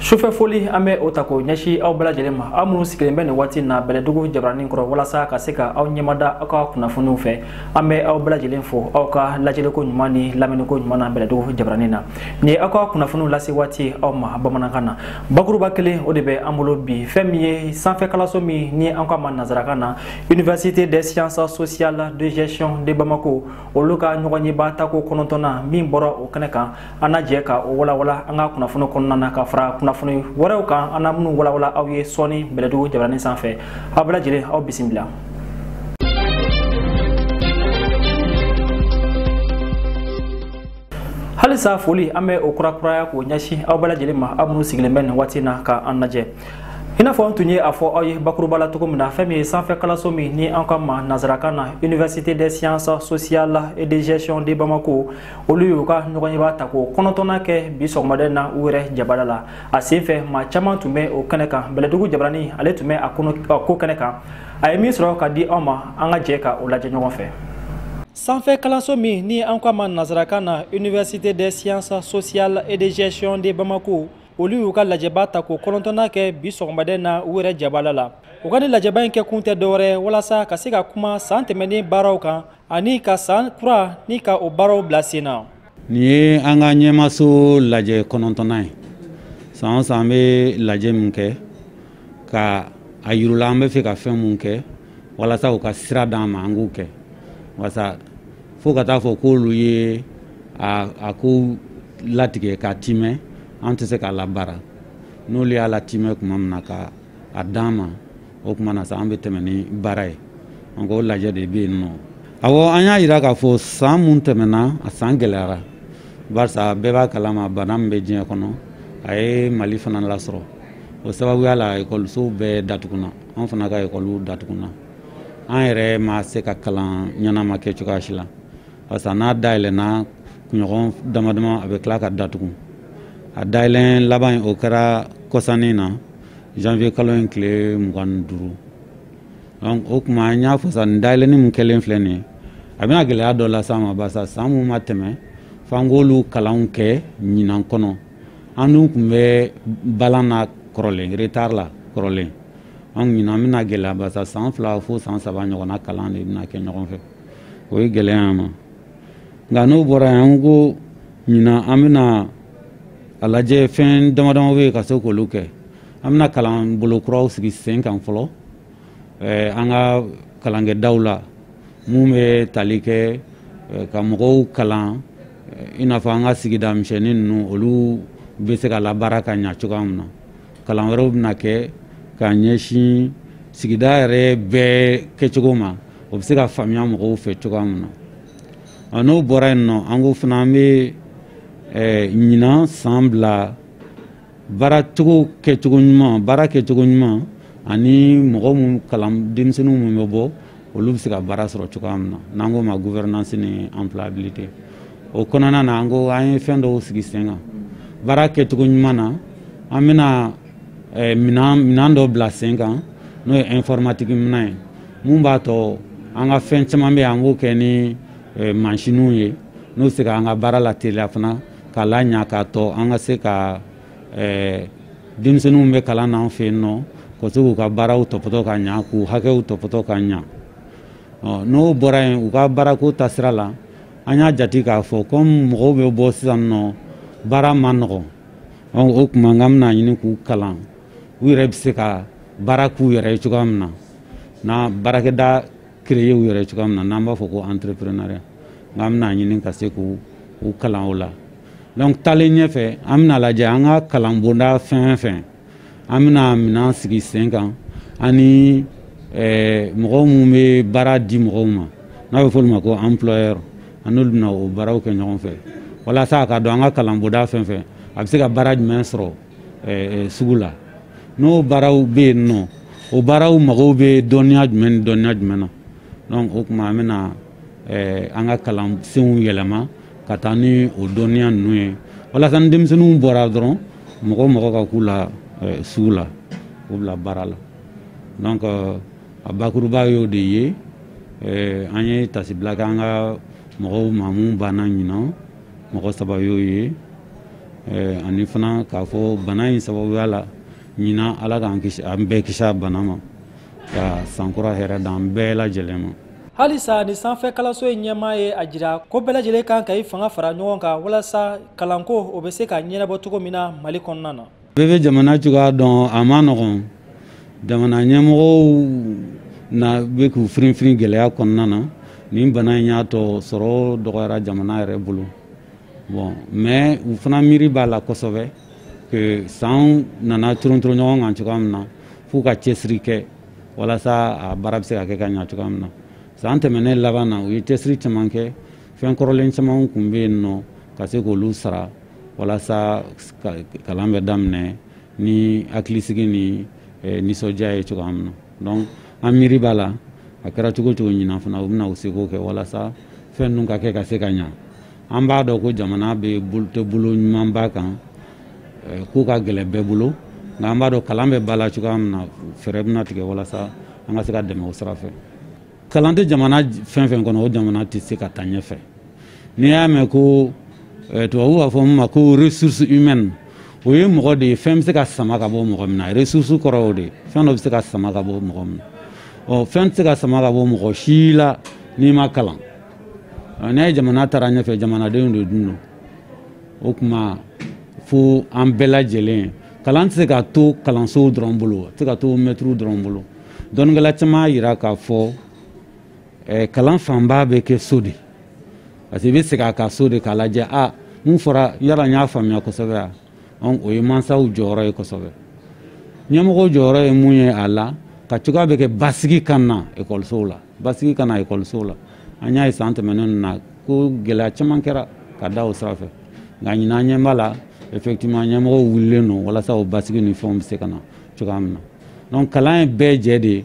sufɛ foli an bɛ o ta k'o ɲɛsin aw bɛɛ lajɛlen ma aw minnu sigilen bɛ nin waati na bɛlɛdugu jabaranin kɔrɔ walasa ka se ka aw ɲɛmada aw ka kunnafoniw fɛ an bɛ aw bɛɛ lajɛlen fo aw ka lajɛliko ɲuman ni lamɛnniko ɲuman na bɛlɛdugu jabaranin na nin ye aw ka kunnafoniw lase waati aw ma bamanankan na bakuruba kelen o de bɛ an bolo bi fɛn min ye sanfɛkalanso min ni an k'a ma nansarakan na université des sciences sociales de gestion de bamako olu ka ɲɔgɔnyeba tako kɔnɔntɔnnan min bɔra o kɛnɛ kan an na jɛ ka o walawala an ka kunnafoni kɔnɔna na ka fara kunnafoni wɛrɛw kan an na minnu walawala aw ye sɔɔni bɛlɛdugu jabaranin sanfɛ aw bɛɛ lajɛlen aw bisimila halisa foli an bɛ o kurakuraya k'o ɲɛsin aw bɛɛ lajɛlen ma aw minnu sigilen bɛ nin waati na ka an lajɛ i n'a fɔ an tun ye a fɔ aw ye bakuruba la cogo min na fɛn min ye sanfɛ kalanso min ni an k'a ma nansarakan na université des sciences sociales et de gestion de bamako olu y'u ka ɲɔgɔnyeba tako kɔnɔntɔnnan kɛ bi sɔgɔmada in na u yɛrɛ jabada la a senfɛ maa caman tun bɛ o kɛnɛ kan bɛlɛdugu jabaranin ale tun bɛ a ko kɛnɛ kan a ye min sɔrɔ ka di aw ma an ka jɛ ka o lajɛ ɲɔgɔn fɛ sanfɛ kalanso min ni an ko a ma nansarakan na université des sciences sociales et de gestion de bamako olu y'u ka lajɛba tako kɔnɔntɔnnan kɛ bi sɔgɔmada in na u yɛrɛ jabala la u ka nin lajɛba in kɛ kun tɛ dɔwɛrɛ walasa ka se ka kuma san tɛmɛnen baaraw kan ani ka san kura nin ka o baaraw bila sen na nin ye an ka ɲɛmaaso lajɛ kɔnɔntɔnnan ye san o san an bɛ lajɛ min kɛ ka a yira u la an bɛ fɛ ka fɛn mun kɛ walasa u ka sira d'an ma an k'u kɛ barisa fo ka taa fɔ k'olu ye a ko latigɛ k'a timɛ an tɛ se k'a labaara n'olu y'a latimɛ kuma min na ka a d'an ma o kuma na sa an bɛ tɛmɛ ni baara ye an ko lajɛ de bɛ yen nɔ awɔ an y'a yira k'a fɔ san mun tɛmɛna a san gɛlɛyara barisa bɛɛ b'a kalama bana min bɛ diɲɛ kɔnɔ a ye mali fana lasɔrɔ o sababuya la ekɔlisow bɛɛ datugunna an fana ka ekɔliw datugunna an yɛrɛ ma se ka kalan ɲɛnama kɛ cogoya si la parce que n'a dayɛlɛnna kunɲɔgɔn damadama a bɛ tila ka datugu a dayɛlɛn laban o kɛra kɔsa nin na janvier kalo in tile mugan ni duuru o kuma an y'a fɔ sa nin dayɛlɛni min kɛlen filɛ nin ye a bɛna gɛlɛya dɔ las'an ma barisa san mun ma tɛmɛ f'an k'olu kalanw kɛ ɲinan kɔnɔ an dun tun bɛ balan na kɔrɔlen retard la kɔrɔlen an ɲinan bɛna gɛlɛya barisa san fila fo san saba ɲɔgɔnna kalan de bɛna kɛ ɲɔgɔn fɛ o ye gɛlɛya ma nka n'o bɔra yen an ko ɲinan an bɛna a lajɛ fɛn damadama bɛ yen ka se k'olu kɛ an bɛna kalan bolo kuraw sigi sen kan fɔlɔ eh, an ka kalankɛdaw la mun bɛ tali kɛ eh, ka mɔgɔw kalan eh, i n'a fɔ an ka sigida misɛnnin ninnu olu bɛ se ka labaara ka ɲa cogoya min na kalan wɛrɛw bɛna kɛ ka ɲɛsin sigida yɛrɛ bɛɛ kɛcogo ma o bɛ se ka faamuya mɔgɔw fɛ cogoya min na ɔ n'o bɔra yen nɔ an ko fana an bɛ eh, ɲinan san bila baara cogo kɛcogo ɲuman baara kɛcogo ɲuman ani mɔgɔ minnu kalan denmisɛnninw minnu bɛ bɔ olu bɛ se ka baara sɔrɔ cogoya min na n'an k'o ma gouvernance ni employabilité o kɔnɔna na an ko an ye fɛn dɔw sigi sen kan baara kɛcogo ɲuman na an bɛna eh, minan minan dɔ bila sen kan n'o ye informatique minan ye mun b'a tɔ an ka fɛn caman bɛ yen an b'o kɛ ni eh, mansinw ye n'o se ka an ka baara lateliya fana k'a laɲa k'a tɔ an ka se ka eh, denmisɛnninw bɛ kalan na an fɛ yen nɔ ka se k'u ka baaraw tɔpɔtɔ ka ɲa k'u hakɛw tɔpɔtɔ ka ɲa n'o bɔra yen u ka baarako taasira la an y'a jate k'a fɔ komi mɔgɔw bɛ bɔ sisan nɔ baara ma nɔgɔn o tuma n ka bɛna ɲini k'u kalan u yɛrɛ bɛ se ka baara k'u yɛrɛ ye cogoya min na n'an baarakɛda créer u yɛrɛ ye cogoya min na n'an b'a fɔ ko entrepreneuriat nka an bɛna ɲini ka se k'u kalan o la donc taalen ɲɛfɛ an bɛna lajɛ an ka kalan bonda fɛn o fɛn an bɛna minan sigi sen kan ani eh, mɔgɔ minnu bɛ baara di mɔgɔw ma n'a bɛ f'olu ma ko employeur an n'olu bɛna o baaraw kɛ ɲɔgɔn fɛ walasa a ka dɔn an ka kalan bonda fɛn o fɛn a bɛ se ka baara jumɛn sɔrɔ sugu la n'o baaraw bɛ yen nɔ o baaraw mago bɛ dɔnniya jumɛn ni dɔnniya jumɛn na donc o tuma an bɛna an ka kalansenw yɛlɛma ka taa ni o dɔnniya ninnu ye walasa ni denmisɛnninw bɔra dɔrɔn mɔgɔ o mɔgɔ ka k'u la sugu la k'u bila baara la donc a bakuruba y'o de ye an ye taasibila kɛ an ka mɔgɔw ma mun banna ɲinan mɔgɔ saba y'o ye ani fana k'a fɔ bana in sababuya la ɲinan ala k'an kisi an bɛɛ kisi a bana ma ka sankura hɛrɛ da an bɛɛ lajɛlen ma halisa nin sanfɛ kalanso in ɲɛmaa ye a jira ko bɛɛ lajɛlen kan ka i fanga fara ɲɔgɔn kan walasa kalanko o bɛ se ka ɲɛnabɔ cogo min na mali kɔnɔna na bɛɛ bɛ jamana cogoya dɔn a ma nɔgɔn jamana ɲɛmɔgɔw na bɛ k'u firinfirin gɛlɛya kɔnɔna na nin bana in y'a tɔ sɔrɔ dɔgɔyara jamana yɛrɛ bolo bon mais u fana miiri b'a la kosɛbɛ que sanw nana torontoro ɲɔgɔn kan cogoya min na f'u ka cɛsiri kɛ walasa a baara bɛ se ka kɛ ka ɲa cogoya min na san tɛmɛnen laban na u ye cɛsiri caman kɛ fɛn kɔrɔlen caman kun bɛ yen nɔ ka se k'olu sara walasa kalan bɛ daminɛ ni hakilisigi ni eh, nisɔndiya ye cogoya min na donc an miiri b'a la a kɛra cogo cogo ɲinan fana u bɛna u seko kɛ walasa fɛn ninnu ka kɛ ka se ka ɲa an b'a dɔn ko jamana bɛ tɛ bolo ɲumanba kan eh, ko ka gɛlɛn bɛɛ bolo nka an b'a dɔn kalan bɛ ba la cogoya min na fɛɛrɛ bɛna tigɛ walasa an ka se ka dɛmɛ o sira fɛ kalan tɛ jamana fɛn fɛn kɔnɔ o jamana tɛ se ka taa ɲɛfɛ n'i y'a mɛn ko eh, tubabu b'a fɔ min ma ko ressource humaine o ye mɔgɔ de ye fɛn bɛ se ka sama ka bɔ mɔgɔ min na ressource kɔrɔ o de fɛn dɔ bɛ se ka sama ka bɔ mɔgɔ min na ɔ fɛn tɛ se ka sama ka bɔ mɔgɔ si la n'i ma kalan n'a ye jamana taara ɲɛfɛ jamanadenw de dun don o tuma fo an bɛɛ lajɛlen kalan tɛ se ka to kalansow dɔrɔn bolo a tɛ se ka to mɛtiriw dɔrɔn bolo dɔnnikɛla caman y'a jira k'a fɔ eh, kalan fanba bɛ kɛ so de parce que i bɛ segin a kan so de k'a lajɛ a mun fɔra yala n y'a faamuya kosɛbɛ wa donc o ye mansaw jɔyɔrɔ ye kosɛbɛ ɲɛmɔgɔw jɔyɔrɔ ye mun ye a la ka cogoya bɛɛ kɛ basigi ka na ekɔlisow la basigi ka na ekɔlisow la an y'a ye san tɛmɛnen na ko gɛlɛya caman kɛra ka da o sira fɛ nka ɲinan n ɲɛ b'a la effectivement ɲɛmɔgɔw wulilen don walasa o basigi ni fɛnw bɛ se ka na cogoya min na donc kalan ye bɛɛjɛ de ye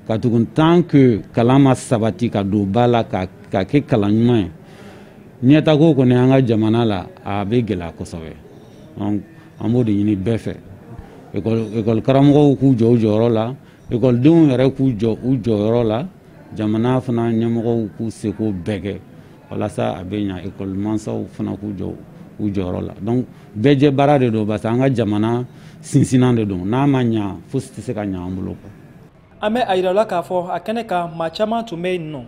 katugun tant que kalan ma sabati ka don ba la ka ka kɛ kalan ɲuman ye ɲɛtaa ko kɔni an ka jamana la a bɛ gɛlɛya kosɛbɛ donc an b'o de ɲini bɛɛ fɛ ekɔli karamɔgɔw k'u jɔ u jɔyɔrɔ la ekɔlidenw yɛrɛ k'u jɔ u jɔyɔrɔ la jamana fana ɲɛmɔgɔw k'u seko bɛɛ kɛ walasa a bɛ ɲa ekɔli mansaw fana k'u jɔ u jɔyɔrɔ la donc bɛɛjɛ baara de don parce que an ka jamana sinsinnan de don n'a ma ɲa fosi tɛ se ka ɲa an bolo quoi an bɛ a yirala k'a fɔ a kɛnɛ kan maa caman tun bɛ yen nɔ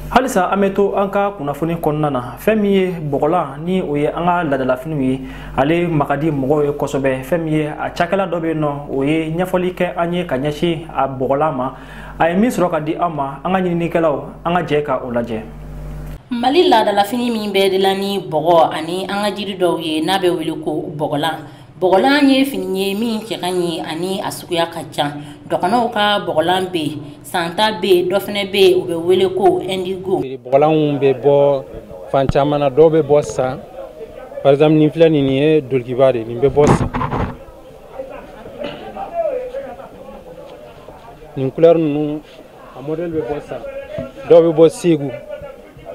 halisa an bɛ to an ka kunnafoni kɔnɔna na fɛn min ye bɔgɔlan ni o ye an ka laadalafiniw ye ale ma ka di mɔgɔw ye kosɛbɛ fɛn min ye a cakɛla dɔ bɛ yen nɔ o ye ɲɛfɔli kɛ an ye ka ɲɛsin a bɔgɔlan ma a ye min sɔrɔ ka di an ma an ka ɲininikɛlaw an ka jɛ ka o lajɛ Mali laadalafini min bɛ dilan ni bɔgɔ ani an ka jiri dɔw ye n'a bɛ wele ko bɔgɔlan bɔgɔlan ye fini ye min cɛ ka ɲi ani a suguya ka ca dɔgɔnɔw ka bɔgɔlan bɛ yen San ta bɛ yen dɔ fana bɛ yen u bɛ wele ko indigo bɔgɔlanw bɛ bɔ fan caman na dɔw bɛ bɔ San par exemple nin filɛ nin ye dulɔkiba de nin bɛ bɔ San nin couleur ninnu a modèle bɛ bɔ San dɔw bɛ bɔ Segu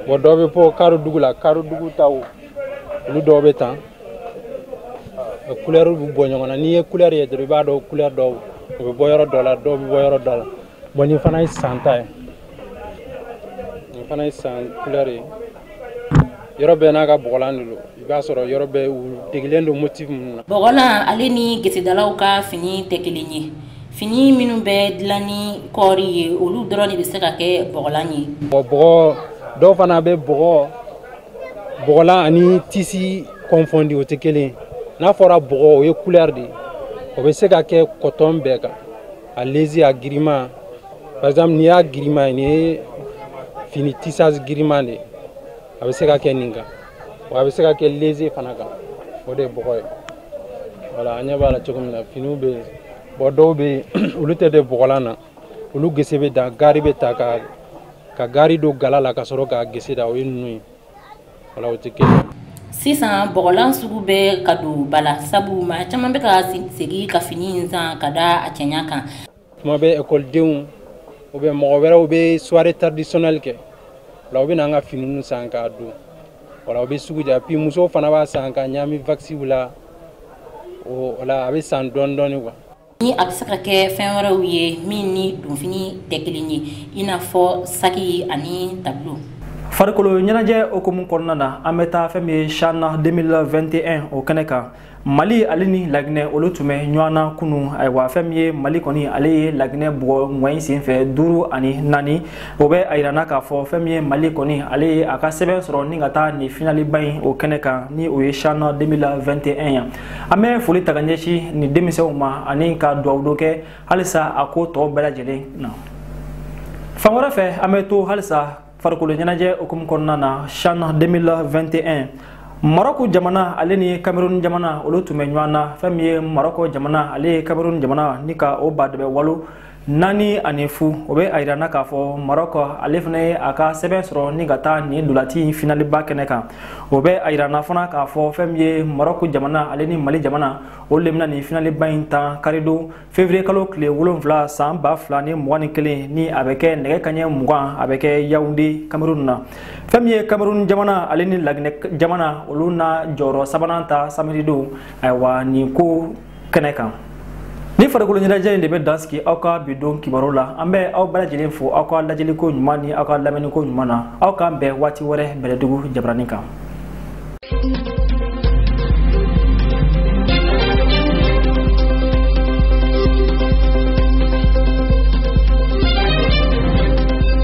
bon dɔw bɛ bɔ Karodugu la Karodugu taw olu dɔw bɛ tan couleur bɛ bɔ ɲɔgɔn na n'i ye couleur ye dɔrɔn i b'a dɔn couleur dɔw u bɛ bɔ yɔrɔ dɔ la dɔw bɛ bɔ yɔrɔ dɔ la bon nin fana ye San ta ye nin fana ye san couleur ye yɔrɔ bɛɛ n'a ka bɔgɔlan de don i b'a sɔrɔ yɔrɔ bɛɛ u degelen don motif minnu na bɔgɔlan ale ni gesedalaw ka fini tɛ kelen ye fini minnu bɛ dilan ni kɔɔri ye olu dɔrɔn de bɛ se ka kɛ bɔgɔlan ye mɔgɔ dɔw fana bɛ bɔgɔ bɔgɔlan ani tisi kɔnfɔndi o tɛ kelen ye n'a fɔra bɔgɔ o ye couleur de ye o bɛ se ka kɛ kɔtɔn bɛɛ kan A léger a girima par exemple n'i y'a girima ye nin ye fini tissage girima de ye a bɛ se ka kɛ nin kan wa a bɛ se ka kɛ léger fana kan o de ye bɔgɔ ye voilà an ɲɛ b'a la cogo min na finiw bɛ yen bon dɔw bɛ yen olu tɛ de bɔgɔlan na olu gese bɛ dan gaari bɛ ta ka gaari don gala la ka sɔrɔ k'a gese da o ye ninnu ye sisan bɔgɔlan sugu bɛ ka don ba la sabu maa caman bɛ ka segin ka fini in san ka da a cɛɲa kan tuma bɛ ekɔlidenw ou bien mɔgɔ wɛrɛw bɛ soirée traditionnelle kɛ o la u bɛ na an ka finiw san k'a don voilà o bɛ sugu diya puis musow fana b'a san ka ɲami waxiw la o la a bɛ san dɔɔni dɔɔni quoi ni a bɛ se ka kɛ fɛn wɛrɛw ye min ni donfini tɛ kelen ye i n'a fɔ saki ani tableau farikolo ɲɛnajɛ hukumu kɔnɔna na an bɛ taa fɛn min ye chan 2021 o kɛnɛ kan mali ale ni laginɛ olu tun bɛ ɲɔgɔn na kunu ayiwa fɛn min ye mali kɔni ale ye laginɛ bugɔ ŋɔyi sen fɛ duuru ani naani o bɛ a yirana k'a fɔ fɛn min ye mali kɔni ale ye a ka sɛbɛn sɔrɔ ni ka taa nin finaliba in o kɛnɛ kan ni o ye chan 2021 ye an bɛ foli ta ka ɲɛsin nin denmisɛnw ma ani ka duwawu dɔ kɛ halisa a ko tɔw bɛɛ lajɛlen na fan wɛrɛ fɛ an bɛ to halisa farikolo ɲɛnajɛ hukumu kɔnɔna na chan 2021 marɔku jamana ale ni cameroun jamana olu tun bɛ ɲɔgɔn na fɛn min ye marɔkɔ jamana ale ye cameroun jamana ni ka o badɛbɛ walo naani ani fu o bɛ a yirana k'a fɔ marɔkɔ ale fana ye a ka sɛbɛn sɔrɔ ni ka taa nin ntolaci in finaliba kɛnɛ kan o bɛ a yirana fana k'a fɔ fɛn min ye marɔku jamana ale ni mali jamana olu le bɛna nin finaliba in tan karidon fevriye kalo tile wolonfila san ba fila ni mugan ni kelen ni a bɛ kɛ nɛgɛ kaɲɛ mugan a bɛ kɛ yawunde kamerun na fɛn min ye kamerun jamana ale ni laginɛ jamana olu na jɔyɔrɔ sabanan ta samedi don ayiwa nin ko kɛnɛ kan ni farikolo ɲɛnajɛ in de bɛ dan sigi aw ka bi don kibaru la an bɛ aw bɛɛ lajɛlen fo aw ka lajɛliko ɲuman ni aw ka lamɛnniko ɲuman na aw k'an bɛn waati wɛrɛ bɛlɛdugu jabarani kan